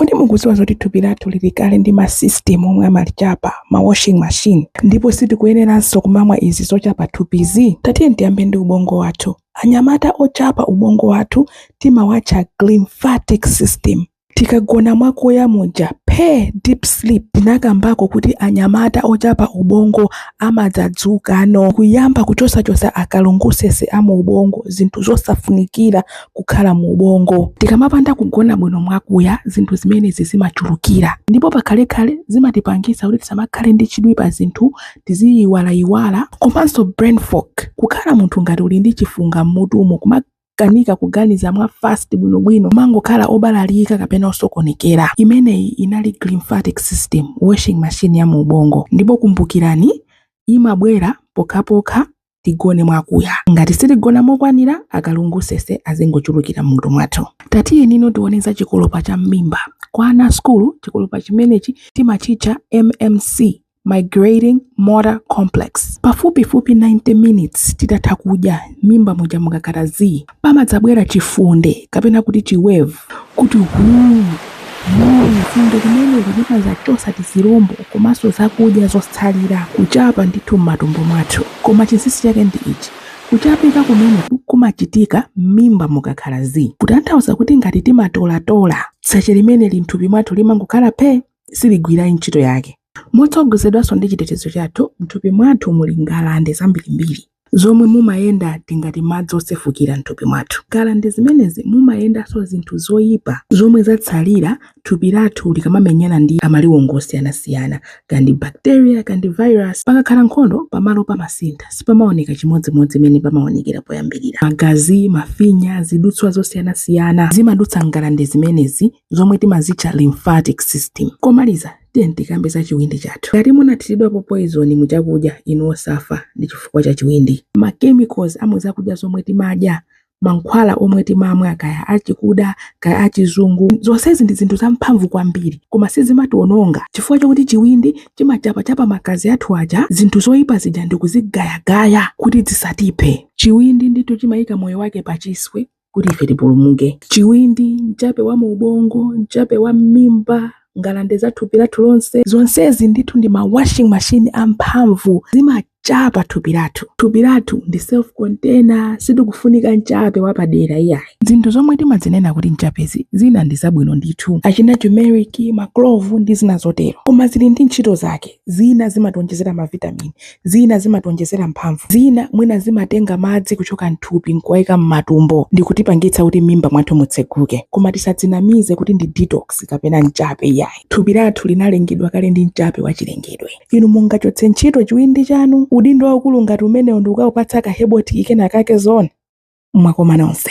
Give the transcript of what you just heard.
Kodi mukudziwa zoti thupi lathu lili kale ndi masisitimu omwe amalichapa, ma washing machine, ndipo sitikuyeneranso kumamwa izi zochapa thupizi? Tatiyeni tiyambe ndi ubongo wathu. Anyamata ochapa ubongo wathu timawatcha glymphatic system. Tikagona mwakuya muja phee, deep sleep, tinakambako kuti anyamata ochapa ubongo amadzadzukano kuyamba kuchosachotsa akalungusese a mu ubongo, zinthu zosafunikira kukhala mu ubongo. Tikamapanda kugona bwino mwakuya, zinthu zimenezi zimachulukira ndipo pakhalekhale zimatipangitsa kuti tisamakhale ndi chidwi pa zinthu, tiziyiwalayiwala komanso brain fog. Kukhala munthu ngati uli ndi chifunga m'mutumo kumakanika kuganiza mwa fast bwinobwino, kumangokhala obalalika kapena osokonekera. Imeneyi inali glymphatic system washing machine ya mu ubongo ndipo kumbukirani, imabwera pokhapokha tigone mwakuya ngati sitigona mokwanira akalungusese azingochulukira mmutu mwathu tatiyeni no tione za chikolopa cha mmimba kwa ana asukulu chikolopa chimenechi timachitcha mmc migrating motor complex pafupifupi 90 minutes titatha kudya mmimba muja mukakhala zii pamadzabwera chifunde kapena kuti chiwevu kuti huu funde limeneli limadzachotsa tizilombo komanso zakudya zotsalira kuchapa ndithu m'matumbo mwathu koma chinsinsi chake ndi ichi kuchapa kumeneku kumachitika m'mimba mukakhala zii kutanthauza kuti ngati timatolatola tsache limeneli m'thupi mwathu limangokhala phe siligwira ntchito yake Motsogozedwanso ndi chitetezo chathu, m'thupi mwathu muli ngalande zambirimbiri zomwe mumayenda tingati madzi osefukira m'thupi mwathu. M'ngalande zimenezi mumayendanso zinthu zoipa zomwe zatsalira thupi lathu likamamenyana ndi amaliwongo osiyanasiyana, kaya ndi bacteria, kaya ndi virus. Pakakhala nkhondo, pamalo pamasintha, sipamaoneka chimodzimodzi mmene pamaonekera poyambirira. Magazi, mafinya, zidutswa zosiyanasiyana zimadutsa m'ngalande zimenezi. zomwe timazitcha lymphatic system. Komaliza, tiyeni tikambe za chiwindi chathu. Ngati munathiridwapo poizoni mu chakudya, inu osafa ndi chifukwa cha chiwindi. Ma chemicals a mu zakudya zomwe timadya, mankhwala omwe timamwa kaya achikuda kaya achizungu, zonsezi ndi zinthu zamphamvu kwambiri koma sizimatiwononga chifukwa chakuti chiwindi chimachapachapa magazi athu aja zinthu zoyipa zija ndikuzigayagaya kuti zisatiphe. Chiwindi ndithu chimayika moyo wake pachiswe kuti ife tipulumuke. Chiwindi, mchape wa mu ubongo, mchape wa mmimba, ngalande za thupi lathu lonse, zonsezi ndithu ndi ma washing machine amphamvu zimachapa thupi lathu. Thupi lathu ndi self container, sitikufunika mchape wapadera iyayi. Zinthu zomwe timazinena kuti mchapezi zina ndi zabwino ndithu, achina turmeric, maklovu ndi zina zotero, koma zili ndi ntchito zake. Zina zimatiwonjezera mavitamini, zina zimatiwonjezera mphamvu, zina mwina zimatenga madzi kuchoka m'thupi n'kuwaika m'matumbo ndi kutipangitsa kuti m'mimba mwathu mutseguke. Koma tisadzinamize kuti ndi detox kapena mchape iyayi. Thupi lathu linalengedwa kale ndi mchape wachilengedwe. Inu mungachotse ntchito chiwindi chanu, udindo waukulu ngati umenewo ndi kukawupatsa ka herbal tea kenakake zoona? Mwakoma nonse.